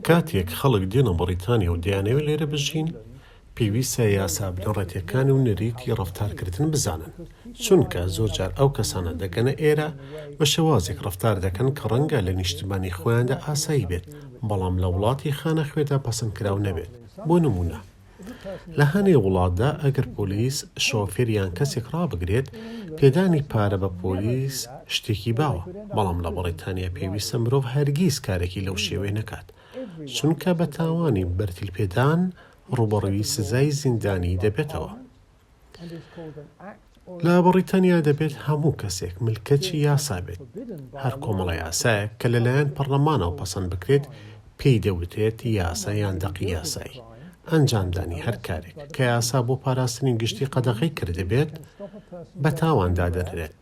کاتێک خەڵک دێنە بەڕیتانیا و دەیانەوێت لێرە بژین، پێویستە یاسا بنەڕەتییەکان و نەریتی ڕەفتارکردن بزانن، چونکە زۆرجار ئەو کەسانە دەگەنە ئێرە بە شێوازێک ڕەفتار دەکەن کە ڕەنگە لە نیشتمانی خۆیاندا ئاسایی بێت، بەڵام لە وڵاتی خانەخوێدا پەسەندکراو نەبێت، بۆ نموونە. لە هەنێ وڵاتدا ئەگەر پۆلیس شۆفێر یان کەسێک ڕابگرێت، پێدانی پارە بە پۆلیس شتێکی باوە، بەڵام لە بەڕیتانیا پێویستە مرۆڤ هەرگیز کارێکی لەو شێوەیە نەکات، چونکە بە تاوانی بەرتیل پێدان ڕووبەڕووی سزای زیندانی دەبێتەوە. لە بەڕیتانیا دەبێت هەموو کەسێک ملکەچی یاسا بێت، هەر کۆمەڵە یاسایەک کە لەلایەن پەڕڵەمانەوە پەسەند بکرێت پێی دەوترێت یاسا یان دەقی یاسایی، ئەنجامدانی هەر کارێک کە یاسا بۆ پاراستنی گشتی قەدەغەی کردبێت بە تاوان دادەنرێت.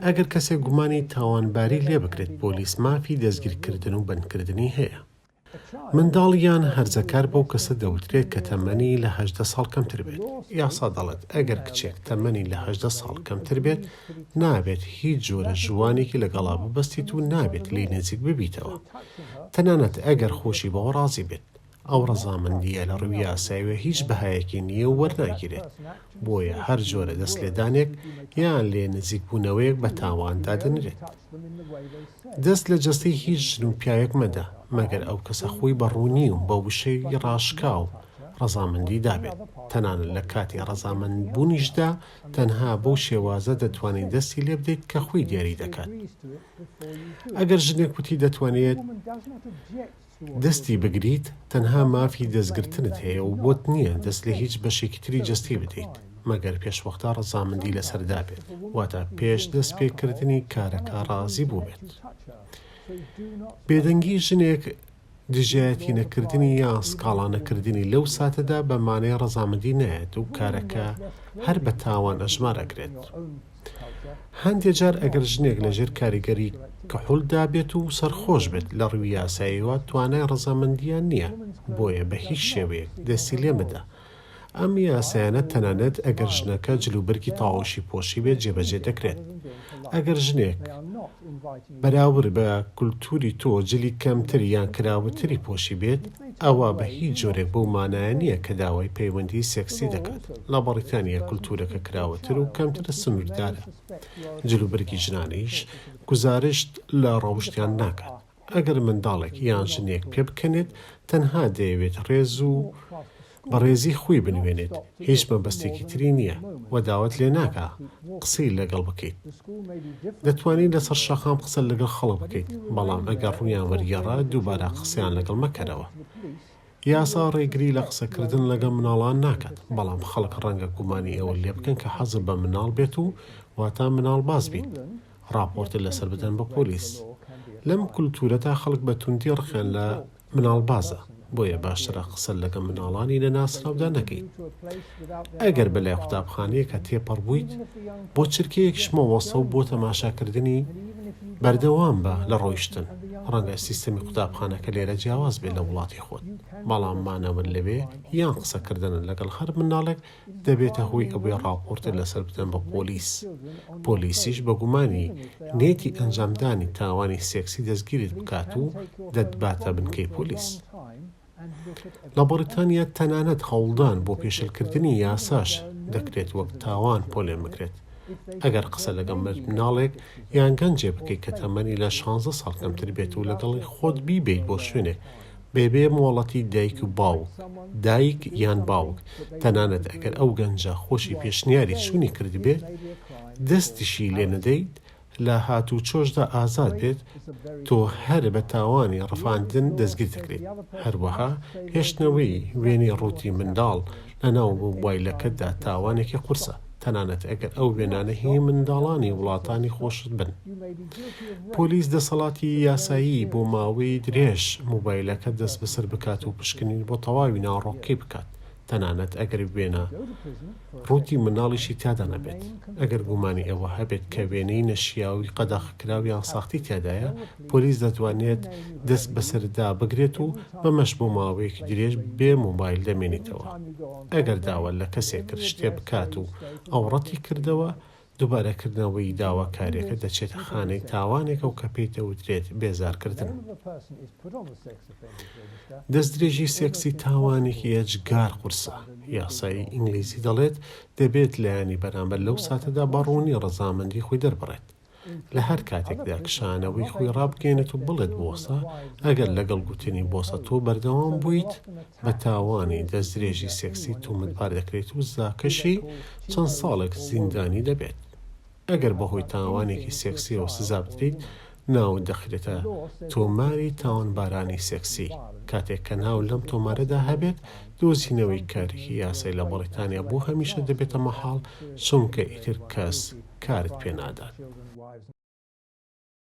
ئەگەر کەسێک گومانی تاوانباری لێبکرێت پۆلیس مافی دەستگیرکردن و بەندکردنی هەیە. منداڵ یان هەرزەکار بەو کەسە دەوترێت کە تەمەنی لە هەژدە ساڵ کەمتر بێت. یاسا دەڵێت ئەگەر کچێک تەمەنی لە هەژدە ساڵ کەمتر بێت، نابێت هیچ جۆرە ژووانێکی لەگەڵا ببەستیت و نابێت لێی نزیک ببیتەوە، تەنانەت ئەگەر خۆشی بەوە ڕازی بێت. ئەو ڕەزامەندییە لە ڕووی یاساییەوە هیچ بەهایەکی نییە و وەرناگیرێت، بۆیە هەر جۆرە دەستلێدانێک یان لێ نزیکبوونەوەیەک بە تاوان دادەنرێت. دەست لە جەستەی هیچ ژن و پیاوێک مەدە مەگەر ئەو کەسە خۆی بە ڕوونی و بە وشەی ڕاشکاو ڕەزامەندی دابێت، تەنانەت لە کاتی ڕەزامەند بوونیشدا تەنها بەو شێوازە دەتوانیت دەستی لێ بدەیت کە خۆی دیاری دەکات. ئەگەر ژنێک وتی دەتوانێت. دەستی بگریت تەنها مافی دەستگرتنت هەیە و بۆت نییە دەست لە هیچ بەشێکی تری جەستەی بدەیت مەگەر پێشوەختە ڕەزامەندی لەسەر دابێت واتە پێش دەست پێکردنی کارەکە ڕازی بووبێت بێدەنگی ژنێک دژایەتی نەکردنی یان سکاڵا نەکردنی لەو ساتەدا بە مانای ڕەزامەندی نایەت و کارەکە هەر بە تاوان ئەژمار ئەکرێت. هەندێ جار ئەگەر ژنێک لە ژێر کاریگەری کحول دابێت و سەرخۆش بێت لە ڕووی یاساییەوە توانای ڕەزامەندییان نییە بۆیە بە هیچ شێوەیەک دەستی لێ مەدە. ئەم یاسایانە تەنانەت ئەگەر ژنەکە جلوبەرگی تاوشی پۆشیبێت جێبەجێ دەکرێت. ئەگەر ژنێک. بەراورد بە کولتوری تۆ جلی کەمتر یان کراوەتری پۆشیبێت ئەوا بە هیچ جۆرێک بەو مانایە نییە کە داوای پەیوەندی سێکسی دەکات، لە بەڕیتانیا کولتورەکە کراوەتر و کەمتر سنوردارە جل و بەرگی ژنانیش گوزارشت لە ڕەوشتیان ناکات ئەگەر منداڵێک یان ژنێک پێبکەنێت تەنها دەیەوێت ڕێز و بەڕێزی خوی بنوێنێت هیچ مەبەستێکی تری نیە وە داوەت لێ ناکا قسەی لەگەڵ بکەیت دەتوانی لەسەر شەقام قسە لەگەڵ خەڵک بکەیت بەڵام ئەگەر ڕویان وەرگێڕا دووبارە قسەیان لەگەڵ مەکەرەوە یاسا ڕێگری لە قسەکردن لەگەڵ مناڵان ناکات بەڵام خەڵک ڕەنگە گومانی ئەوە لێ بکەن کە حەزت بە مناڵ بێت و واتا مناڵ باز بیت ڕاپۆرتت لەسەر بدەن بە پۆلیس لەم کولتورەتا خەڵک بە توندی ڕقیان لە مناڵبازە بۆیە باشترە قسە لەگە مناڵانی نەناسراودا نەکەیت ئەگەر بەلای قوتابخانەیەکە تێپەڕ بوویت بۆ چرکەیەکش مەوەسەو بۆ تەماشاکردنی بەردەوام بە لە ڕۆیشتن ڕەنگە سیستەمی قوتابخانەکە لێرە جیاواز بێ لە وڵاتی خۆت بەڵام مانەوە لەوێ یان قسەکردنە لەگەڵ هەر مناڵێک دەبێتە هۆی ئەوەی ڕاپۆرتت لەسەر بدەن بە پۆلیس، پۆلیسیش بە گومانی نیەتی ئەنجامدانی تاوانی سێکسی دەستگیرت بکات و دەتباتە بنکەی پۆلیس. لە بەڕیتانیا تەنانەت هەوڵدان بۆ پێشێلکردنی یاساش دەکرێت وەک تاوان پۆلێن بکرێت ئەگەر قسە لەگەڵ منداڵێک یان گەنجێ بکەیت کە تەمەنی لە شانزە ساڵ کەمتر بێت و لەگەڵی خۆت بیبەیت بۆ شوێنێک بەبێ مۆڵەتی دایک و باوک، دایک یان باوک، تەنانەت ئەگەر ئەو گەنجە خۆشی پێشنیاری چوونی کردبێت، دەستیشی لێ نەدەیت، لە هاتووچۆشدا ئازاد بێت، تۆ هەر بە تاوانی ڕفاندن دەستگیر دەکرێیت. هەروەها هێشتنەوەی وێنەی ڕووتی منداڵ لەناو مۆبایلەکەتدا تاوانێکی قورسە، تەنانەت ئەگەر ئەو وێنانە هی منداڵانی وڵاتانی خۆشت بن. پۆلیس دەسەڵاتی یاسایی بۆ ماوەی درێژ مۆبایلەکەت دەستبەسەر بکات و پشکنین بۆ تەواوی ناڕۆکەکەی بکات، تەنانەت ئەگەر وێنە ڕووتی منداڵیشی تیادا نەبێت. ئەگەر گومانی ئەوە هەبێت کە وێنەی نەشیاوی قەدەغەکراو یان ساختی تیادایە، پۆلیس دەتوانێت دەست بەسەرتدا بگرێت و بەمەش بۆ ماوەیەکی درێژ بێ مۆبایل دەمێنیتەوە. ئەگەر داوا لە کەسێک کرد شتێ بکات و ئەو ڕەتی کردەوە، دووبارە کردنەوەی داواکاریەکە دەچێتە خانەی تاوانێکە و کە پێی دەوترێت بێزار کردن. دەستدرێژی سێکسی تاوانێکی ئێجگار قورسە. یاسای ئینگلیزی دەڵێت دەبێت لایەنی بەرامبەر لەو ساتەدا بە ڕوونی ڕەزامەندی خۆی دەربڕێت. لە هەر کاتێکدا کشانەوەی خۆی ڕابگەیەنێت و بڵێت بۆسە، ئەگەر لەگەڵ گوتنی بۆسە تۆ بەردەوام بوویت، بە تاوانی دەستدرێژی سێکسی تۆمەتبار دەکرێت و سزاکەشی چەند ساڵێک زیندانی دەبێت. ئەگەر بەهۆی تاوانێکی سێکسییەوە سزا بدرێیت، ناوت دەخرێتە تۆماری تاوانبارانی سێکسی، کاتێک کە ناو لەم تۆمارەدا هەبێت، دۆزینەوەی کارێکی یاسای لە بەڕیتانیا بۆ هەمیشە دەبێتە مەحاڵ، چونکە ئیتر کەس کارت پێ نادات.